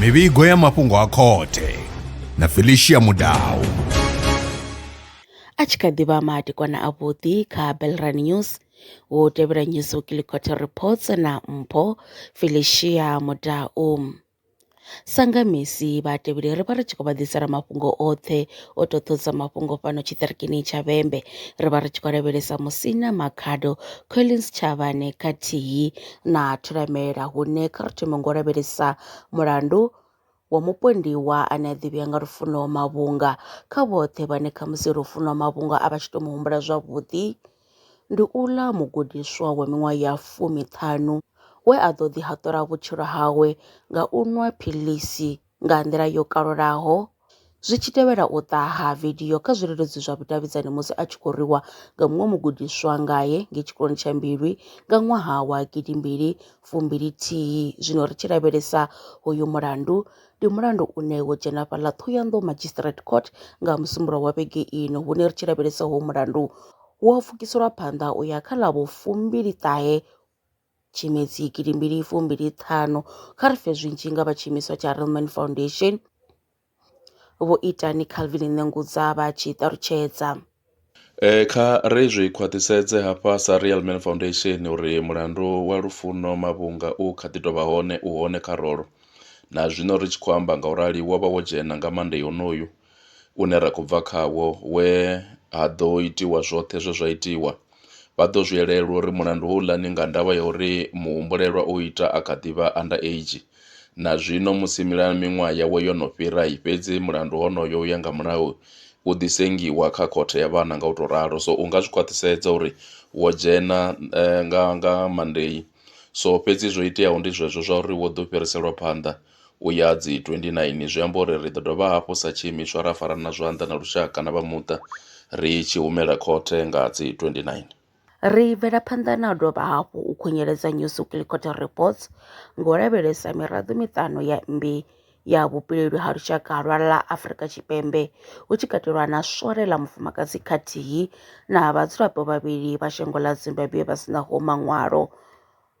mivhigo ya mafhungo a khothe na felicia mudau a tshi kha ḓi vha madekwana avhuḓi kha belran news wo tevhela news weekly quarter reports na mpho felicia mudau Sa nga mec vhahatevheli ri vha ri tshi khou vha ḓisela mafhungo oṱhe o totosa mafhungo fhano tshiṱirikini tsha Vhembe. Ri vha ri tshi khou lavhelesa Musina Makhado, Collins Tshavhane khathihi na Thulamela hune kha ri thome ngo lavhelesa mulandu wa mupondiwa ane a ḓivhea nga Lufuno Mavhunga. Kha vhoṱhe vhane khamusi Lufuno Mavhunga a vha tshi to mu humbula zwavhuḓi. Ndi uḽa mugudiswa wa miṅwaha ya fumi-ṱhanu we a ḓo ḓihaṱula vhutshilo hawe nga u nwa philisi nga nḓila yo kalulaho zwi tshi tevhela u ṱaha ha vidio kha zwileludzi zwa vhudavhidzani musi a tshi khou rwiwa nga muṅwe mugudiswa ngae ngei tshikoloni tsha Mbilwi nga ṅwaha wa gidimbili fumbili-thihi. Zwino ri tshi lavhelesa hoyu mulandu, Ndi mulandu une wo dzhena fhaḽa Thohoyandou Magistrate Court nga Musumbuluwo wa vhege ino hune ri tshi lavhelesa hoyu mulandu u a pfukiselwa phanḓa u ya kha ḽa vho fumbili ṱahe Tshimedzi gidi mbili fumbili ṱhanu kha ri fhe zwinzhi nga vha tshiimiswa tsha Relman Foundation Vho Itani Calvin Nengudza vha tshi ṱalutshedza. Kha ri zwi khwaṱhisedze hafha sa Real Man Foundation uri mulandu wa Lufuno Mavhunga u kha ḓi tou vha hone, u hone kha rolo. Na zwino ri tshi khou amba nga u rali wo vha wo dzhena nga Monday honoyu une ra khou bva khawo we ha ḓo itiwa zwoṱhe zwe zwa itiwa. Vha ḓo zwi elelwa uri mulandu houḽa ni nga ndavha ya uri muhumbulelwa o ita a kha ḓi vha under age. Na zwino musi mila miṅwaha yawe yo no fhira, fhedzi mulandu honoyo u ya nga mulayo u ḓi sengiwa kha khothe ya vhana nga u tou ralo. So u nga zwi khwaṱhisedza uri wo dzhena nga nga Monday. So fhedzi zwo iteaho ndi zwezwo zwa uri wo ḓo fhiriselwa phanḓa. u ya dzi 29. Zwi amba uri ri ḓo dovha hafhu sa tshiimiswa ra farana zwanḓa na lushaka na vha muṱa ri tshi humela khothe nga dzi 29. Ri bvela phanḓa na u dovha hafhu u khunyeledza New Supreme Court Reports ngo lavhelesa miraḓo miṱanu ya mmbi ya vhupileli ha lushaka lwa ḽa Afrika Tshipembe hu tshi katelwa na swole ḽa mufumakadzi khathihi na vhadzulapo vhavhili vha shango ḽa Zimbabwe vha sinaho maṅwalo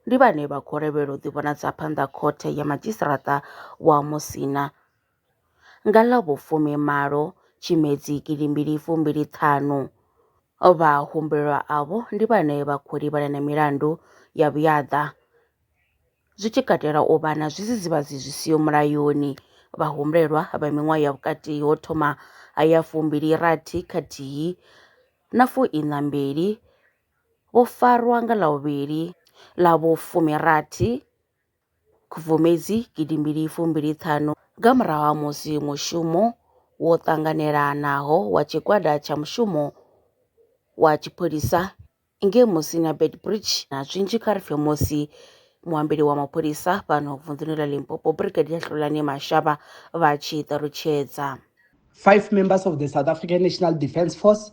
ndi vhane vha khou lavhelela u ḓivhonadza phanḓa Khothe ya Madzhisiṱaraṱa wa Musina nga ḽa vhu fumi malo Tshimedzi gidi mbili fumbili ṱhanu. Vha humbelwa avho ndi vhane vha khou livhana na milandu ya vhuyaḓa, zwi tshi katela u vha na zwidzidzivhadzi zwi siho mulayoni, vha humbelwa vha miṅwaha ya vhukati ho thoma ha ya fumbili rathi khathihi na fuiṋa mbili. vho farwa nga ḽa vhuvhili ḽa vhu fumirathi Khubvumedzi gidi mbili fumbili ṱhanu nga murahu ha musi mushumo wo ṱanganelanaho wa tshigwada tsha mushumo wa tshipholisa ngei Musina na Beitbridge na zwinzhi kha ri pfe musi muambeli wa mapholisa fhano vunḓuni ḽa Limpopo Brigadier Hlulani Mashaba vha tshi ṱalutshedza. Five members of the South African National Defence Force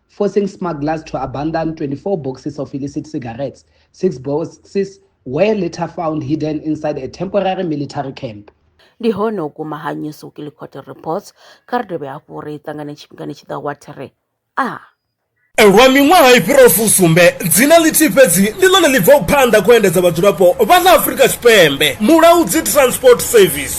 forcing smugglers to abandon 24 boxes of illicit cigarettes, six boxes were later found hidden inside a temporary military camp. ndi hone u guma ha news weekly court reports kha ri dovhe hafhu ri ṱangane tshifhingani tshi ḓaho wa thiri a Lwa miṅwaha i fhiraho fusumbe, dzina ḽithihi fhedzi ndi ḽone ḽi bvaho phanḓa khou endedza vhadzulapo vha ḽa Afrika Tshipembe, Mulaudzi Transport Service.